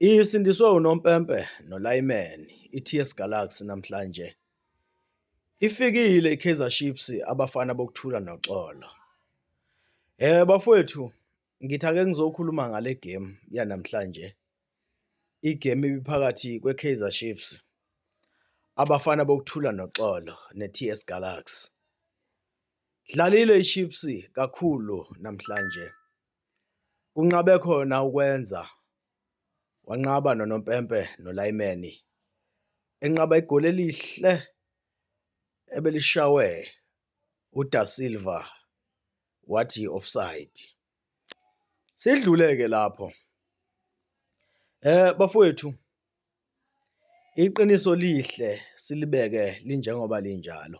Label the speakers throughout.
Speaker 1: Isindiswe unompempe nolayimeni iTS Galaxy namhlanje. Ifikile iKaizer Chiefs abafana bokuthula noxolo. Eh bafowethu ngithi ake ngizokhuluma ngale game yanamhlanje. Igame ibiphakathi kweKaizer Chiefs abafana bokuthula noxolo neTS Galaxy. Dlalile iChiefs kakhulu namhlanje. Kunqabe khona ukwenza, wanqaba nonompempe nolayimeni, enqaba igoli elihle ebelishawe uDa Silva wathi offside. Sidluleke lapho. Eh bafowethu iqiniso lihle silibeke linjengoba linjalo.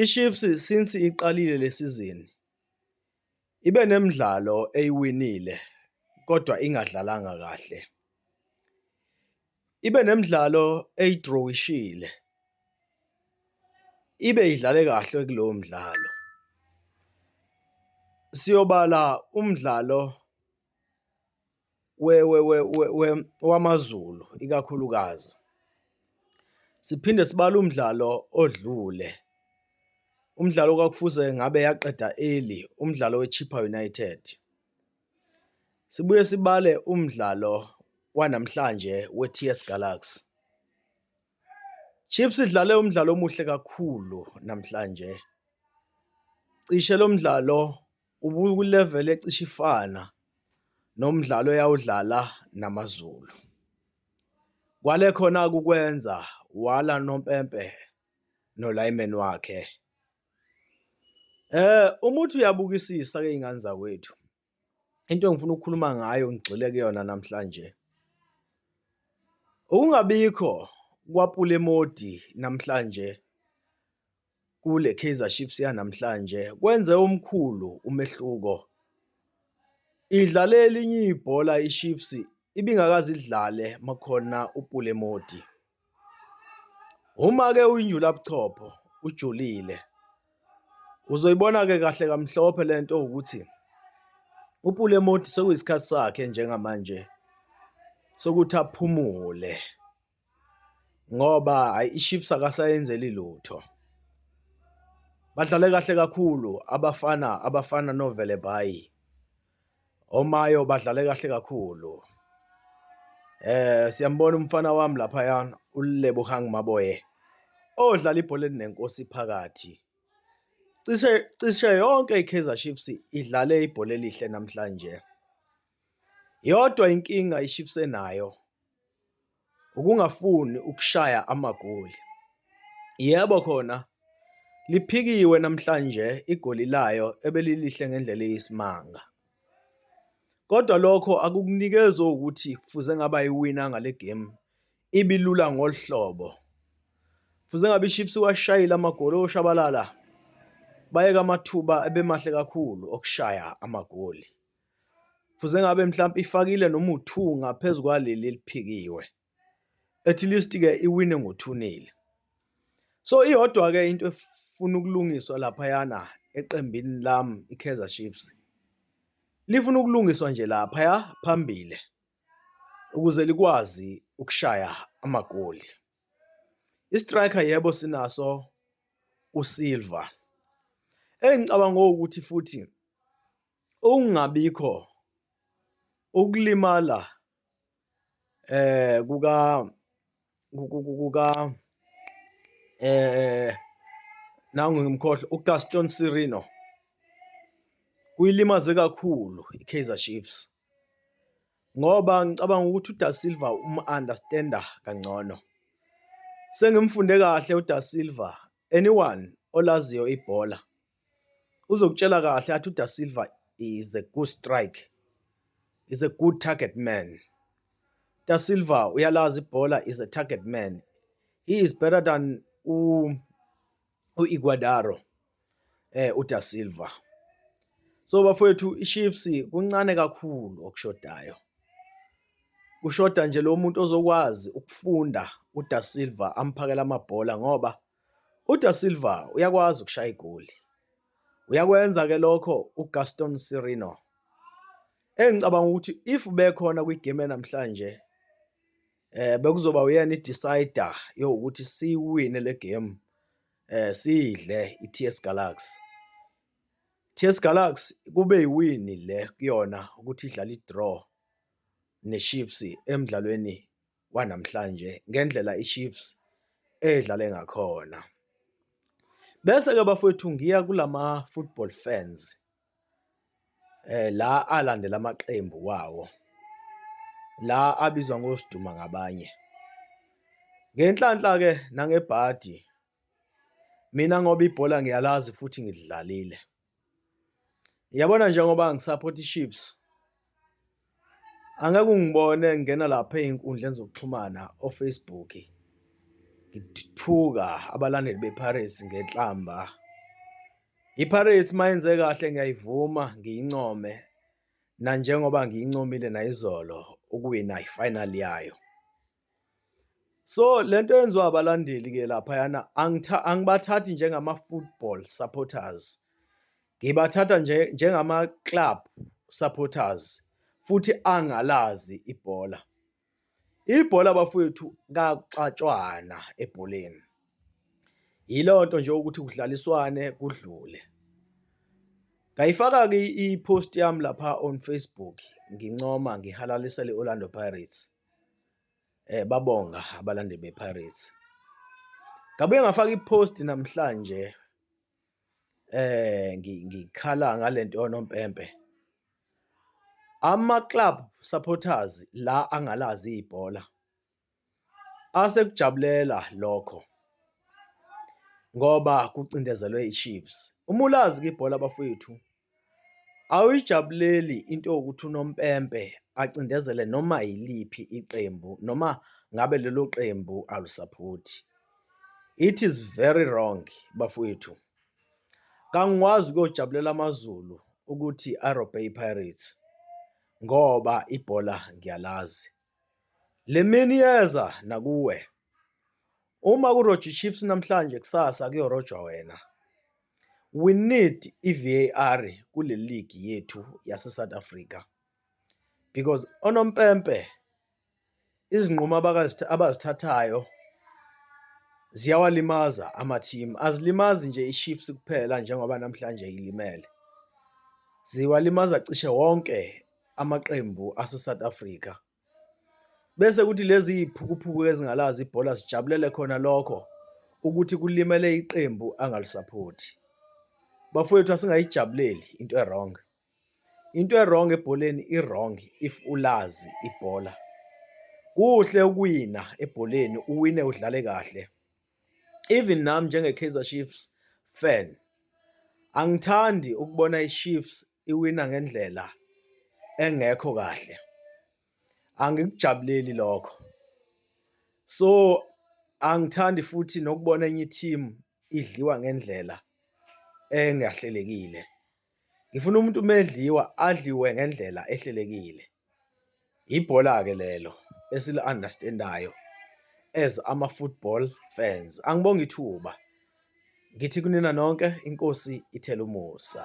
Speaker 1: IChiefs since iqalile le sizini ibe nemidlalo eyiwinile kodwa ingadlalanga kahle. Ibe nemidlalo eyidrowishile, ibe idlale kahle kulowo mdlalo. Siyobala umdlalo. wamaZulu ikakhulukazi. Siphinde sibale umdlalo odlule, umdlalo kwakufuze ngabe yaqeda early, umdlalo we-Chippa United. Sibuye sibale umdlalo wanamhlanje we-TS Galaxy. Chiefs idlale umdlalo omuhle kakhulu namhlanje. Cishe lo mdlalo Ubukulevel ecishe ifana nomdlalo eyawudlala namaZulu. Kwale khona ukwenza wala nompempe nolayimeni wakhe. Eh uma uthi uyabukisisa ke ingane zakwethu. Into engifuna ukukhuluma ngayo ngigxile kuyona namhlanje. Ukungabikho kwaPulemodi namhlanje kule Kaizer Chiefs yanamhlanje kwenze omkhulu umehluko. Idlale elinye ibhola iChiefs ibingakaze idlale makhona uPule Modi. Uma ke uyinjula buchopho ujulile. Uzoyibona ke kahle kamhlophe lento ukuthi uPule Modi sekuyisikhathi sakhe njengamanje sokuthi aphumule. ngoba hhayi iChiefs akasayenzeli lutho. Badlale kahle kakhulu abafana abafana noVelebayi, oMayo badlale kahle kakhulu. Eh siyambona umfana wami laphaya uLebogang Maboye odlala ibhola elinenkosi phakathi. Cishe cishe yonke iKaizer Chiefs idlale ibhola elihle namhlanje. Yodwa inkinga iChiefs enayo ukungafuni ukushaya amagoli. Yebo khona liphikiwe namhlanje igoli layo ebelilihle ngendlela eyisimanga. Kodwa lokho akukunikezi ukuthi kufuze ngaba iwina ngale game ibilula ngolu hlobo. Kufuze ngabe iChiefs iwashayile amagoli oshabalala bayeka amathuba ebemahle kakhulu okushaya amagoli. Fuze ngabe mhlawumbe ifakile noma u-two ngaphezu kwaleli eliphikiwe. At least-ke iwine ngo-two nil. So, iyodwa-ke into efuna ukulungiswa laphayana eqembini lami i-Kaizer Chiefs. Lifuna ukulungiswa nje laphaya phambili ukuze likwazi ukushaya amagoli. I-striker yebo sinaso uSilva. Engicabanga ukuthi futhi Ukungabikho ukulimala eh kuka kuka eh nangu ngimkhohle uGaston Sirino kuyilimaze kakhulu iKaizer Chiefs ngoba ngicabanga ukuthi uDa Silva umu-understanda kangcono. Sengimfunde kahle uDa Silva, anyone olaziyo ibhola uzokutshela kahle athi uDa Silva is a good strike is a good target man Da Silva uyalazi ibhola is a target man he is better than u uIguadaro eh uDa Silva so bafowethu iChiefs kuncane kakhulu okushodayo kushoda nje lo muntu ozokwazi ukufunda uDa Silva amphakela amabhola ngoba UDa Silva uyakwazi ukushaya igoli. Uyakwenza-ke lokho uGaston Sirino. Engicabanga ukuthi if bekhona kwigame yanamhlanje eh bekuzoba uyena i-decider yokuthi siwine le game eh sidle i-TS Galaxy. TS Galaxy kube yiwini le kuyona ukuthi idlala i-draw neChiefs emdlalweni kwanamhlanje ngendlela iChiefs edlale ngakhona. Bese-ke bafowethu ngiya kulama-football fans eh, la alandela amaqembu wawo, la abizwa ngoSiduma ngabanye. Ngenhlanhla-ke nangebhadi mina ngoba ibhola ngiyalazi futhi ngilidlalile. Yabona njengoba ngisaphotha iChiefs angeke ungibone ngena lapha ey'nkundleni zokuxhumana oFacebook ngithuka abalandeli bePirates ngenhlamba. IPirates uma yenze kahle ngiyayivuma ngiyincome nanjengoba ngiyincomile nayizolo ukuwina ifinali yayo. So lento yenziwa abalandeli ke lapha yana angibathathi njengama football supporters. Ngibathatha nje njengama club supporters futhi angalazi ibhola. Ibhola bafowethu kaxatshwana ebholeni. Yilonto nje ukuthi kudlaliswane kudlule. Ngayifaka ke i-post yami lapha on Facebook ngincoma ngihalalise le-Orlando Pirates. babonga abalandeli bePirates. Ngabuye ngafaka i-post namhlanje ngikhala ngale nto yonompempe. Ama-club supporters la angalazi ibhola asekujabulela lokho ngoba kucindezelwe iChiefs. Uma ulazi-ke ibhola bafwethu. Awuyijabuleli into yokuthi unompempe acindezele noma yiliphi iqembu noma ngabe lelo qembu alusaphothi. It is very wrong bafowethu. Kangikwazi ukuyojabulela amaZulu ukuthi arobhe iPirates ngoba ibhola ngiyalazi. Le mini iyeza nakuwe. Uma kurojwa iChiefs namhlanje kusasa kuyorojwa wena. We need i-VAR kule ligi yethu yase-South Africa because onompempe izinqumo abazithathayo ziyawalimaza amathimu, azilimazi nje iChiefs kuphela njengoba namhlanje ilimele, ziwalimaza cishe wonke amaqembu aseSouth Africa bese kuthi lezi iziphukuphuku ezingalazi ibhola zijabulele khona lokho ukuthi kulimele iqembu angalusaphothi bafowethu asingayijabuleli into ewrong into ewrong ebholeni iwrong if ulazi ibhola kuhle ukuwina ebholeni uwine udlale kahle even nami njenge Kaizer Chiefs fan angithandi ukubona iChiefs iwina ngendlela engekho kahle angikujabuleli lokho so angithandi futhi nokubona enye team idliwa ngendlela engahlelekile ngifuna umuntu umedliwa adliwe ngendlela ehlelekile Ibhola-ke lelo esili-understand-ayo as ama-football fans. Angibonge ithuba, ngithi kunina nonke iNkosi ithele umusa.